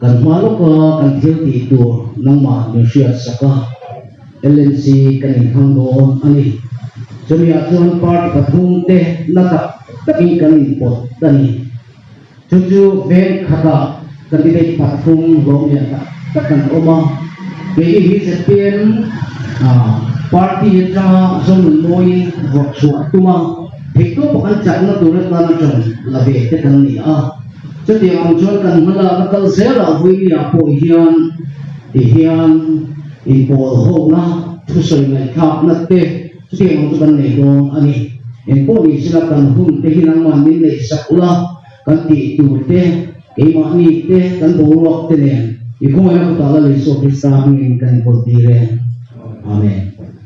Kan hma lawka kan thil tih tur nangmah min hriat sak a, LNC kan inhlang dawn a ni. Chumi ah chuan party pathum te na tak takin kan inpawt ta ni. Chu chu veng khat ah candidate pathum hlawmhliah tak tak kan awm a, keini hi zpm party atanga zawmin mawiin ruahchhuah tuma theihtawpa kan chakna tur atana tan la ve te kan ni a. Chutiang ang chuan kan hmalakna kal zela Vuimia pawh hian ti hian inpawl hona thusawi ngaihthlakna te chutiang ang chu kan nei dawn a ni. Engpawh ni sila kan hun te hi nangma min nei sak ula, kan tih tur te, keimahni te, kan boruak te nen i khawngaihna kawtah Lalei Isua Krista hmingin kan inkawl tir e. Amen.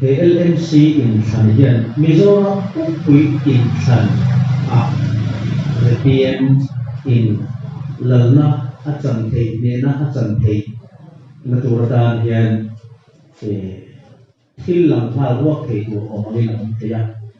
He LMC inthlan hian Mizoram Pumpuii inthlan ah repeam in lalna a chan thei hnehna a chan thei na tur atan hian thil lam nghal ruak thei tur awm angin a awm thei a.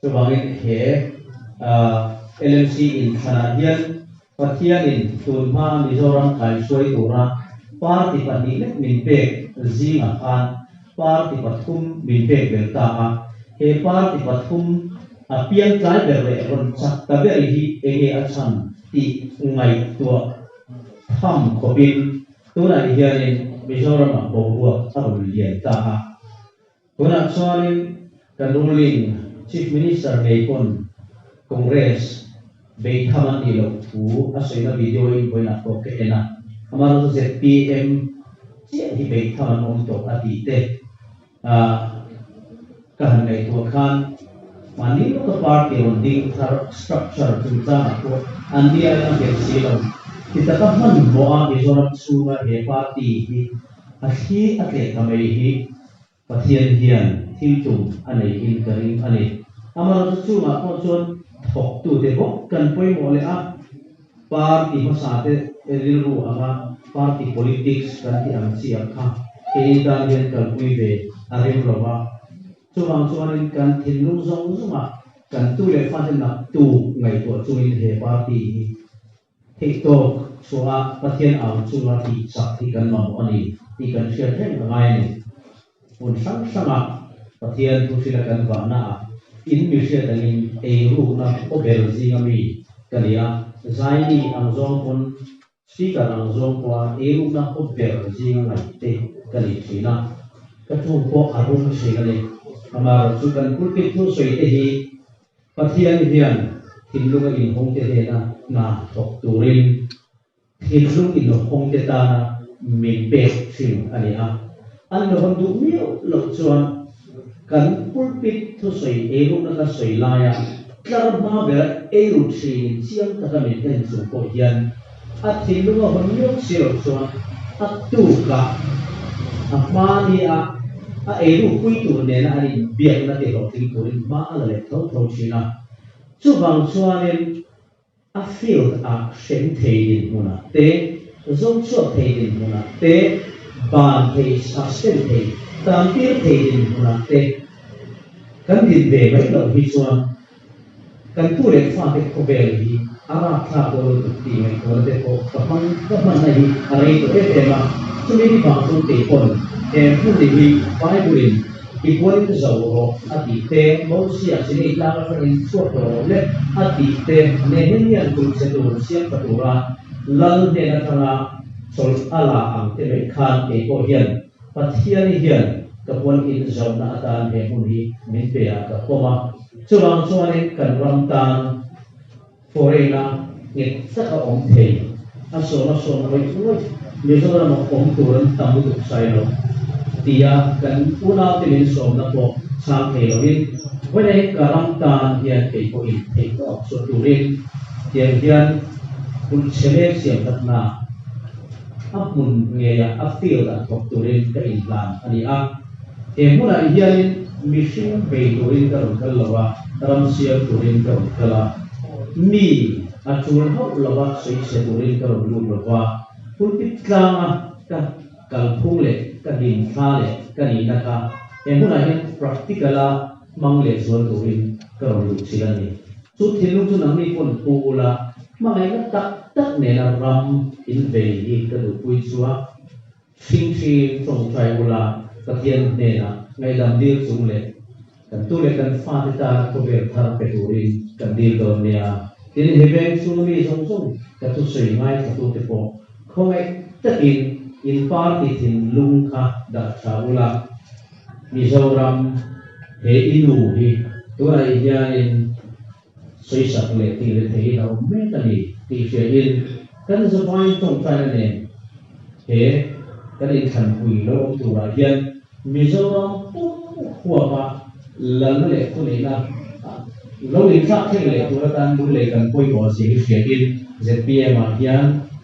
Chuvangin he LMC inthlana hian Pathianin tun hma Mizoram kaihruai tura party pahnih lek min pek zingah khan party pathum min pek ber ta a. He party pathum a piang tlai ber leh rawn chak ta ber hi eng nge a chhan tih ngaihtuah tham khawpin tunah hianin Mizoramah boruak a rawn lian ta a. Tunah chuanin kan ruling Chief Minister ngei pawn Congress bei tham an nih loh thu a sawina video inbuainak pawh ka en a, amaherawhchu zpm chiah hi bei tham an awm tawh a tih te ah ka han ngaihtuah khan mahni lawka party rawn ding thar structure chungchangah pawh an ni aia hriat si lo ti taka hman hmuh a Mizoram chhunga he party hi a thli a tleh ta mai hi. Pathian hian thil tlum a neihin ka ring a ni. Amarawhchu chungah pawh chuan thawktute bawk kan pawimawh leh a, party hmasate rilru anga party politics kan tih ang chi ang kha keiin tan hian kalpui ve a rem lo va. Chuvang chuanin kan thinlung zawng zawngah kan tu leh fatennak tu ngaihtuah chungin he party hi Eihtawk chuangah Pathian au chunga tihchak hi kan mamawh a ni tih kan hriat reng ka ngai a ni. Hmun hrang hrangah Pathian thu hrilh a kan vahna ah in mihriat angin ei rukna aw bel zing a mi ka ni a, Zaimi ang zawng pawn Speaker ang zawng pawha ei rukna aw ber zing a ngaih te ka nih thin a, ka ṭung pawh a rum thin a ni. Amaherawhchu kan pulpit hnusawi te hi Pathian hian thinlunga inhawngte nena hna thawk turin thinlung inhawngte tana min pek thin a ni a. An la hawn duh miau lo chuan kan pulpit thusawi eirukna ka sawi laia tlar hma bera eiru thin chiang taka min en chung pawh hian, A thinlung a hawn miau si lo chuan a tuka a hma nia a eiruk pui tur nena an inbiakna tihlo tling turin hma a la let tho tho thin a. Chuvang chuanin a field ah hrem thei dinhmunah te, zawng chhuak thei dinhmunah te, ban thei suspend thei, tantir thei dinhmunah te kan din ve mai loh hi chuan Kan pu leh fa te khawvel hi a rap thlak dawn lo tuk tih ngaih tuala te pawh ka hmang ka hmanna hi a rei tawh em em a. Chumi hi vang chu kei pawn he hmun ni hi Bible-in i buain zo rawh a tih te, Mosia chini tlang atang in chhuak tawh rawh le a tih te, Nehemian kulhchhe tur siamtha tura lal hnen atanga chawlh a la ang te leh khan keipawh hian, Pathian i hian ka pawn in zohna atan he hmun hi min pe ah ka pawm a, chuvang chuan in kan ram tan foreign a nghet tak a awm thei, a sawm a sawm ngawih ngawih, Mizoram ah awm tur an tam lutuk sai lo ti a kan unau te min sawmna pawh chhang thei lo in vawiah in ka ram tan hian kei pawh in theih ka awk saw tur in tiang hian hun chhe lem siam tak na. a hmun ngeia a field a thawk turin ka intlan a ni a, he hmunah hianin mihring bei turin ka rawn kal lo a, ram siam turin ka rawn kal a, mi a tul hauh lova sawichhe turin ka rawn lut lo va, pulpit tlanga ka kalphung leh ka din thla leh ka nihna kha he hmunah hian practical a, hmang leh zual turin ka rawn duh chilh a ni. Chu thinlung chu nangni pawn pu ula hmangaihna tak tak nena ram in vei hi ka duhpui chhuak. Hring hring tawngtai ula Pathian hnena ngaihdam dil chung leh kan tu leh kan fate tana khawvel thar pe turin kan dil dawn nia. Tin, hi veng chhunga mi zawng zawng ka thusawi ngaithatute pawh khawngaih takin in par ti thinlung kha darh tha ula. Mizoram he i nu hi tunah i hianin sawisak leh tih le theihin a awm mek a ni tih hriain kan zavai tawngtai a nen. He kan inthlanpui lo awm turah hian Mizoram pumhhuapa lal leh thuneihna lo inthlak thleng leh tur atan lung lei kan pawi tawh a si hi hriain ZPM-ah hian,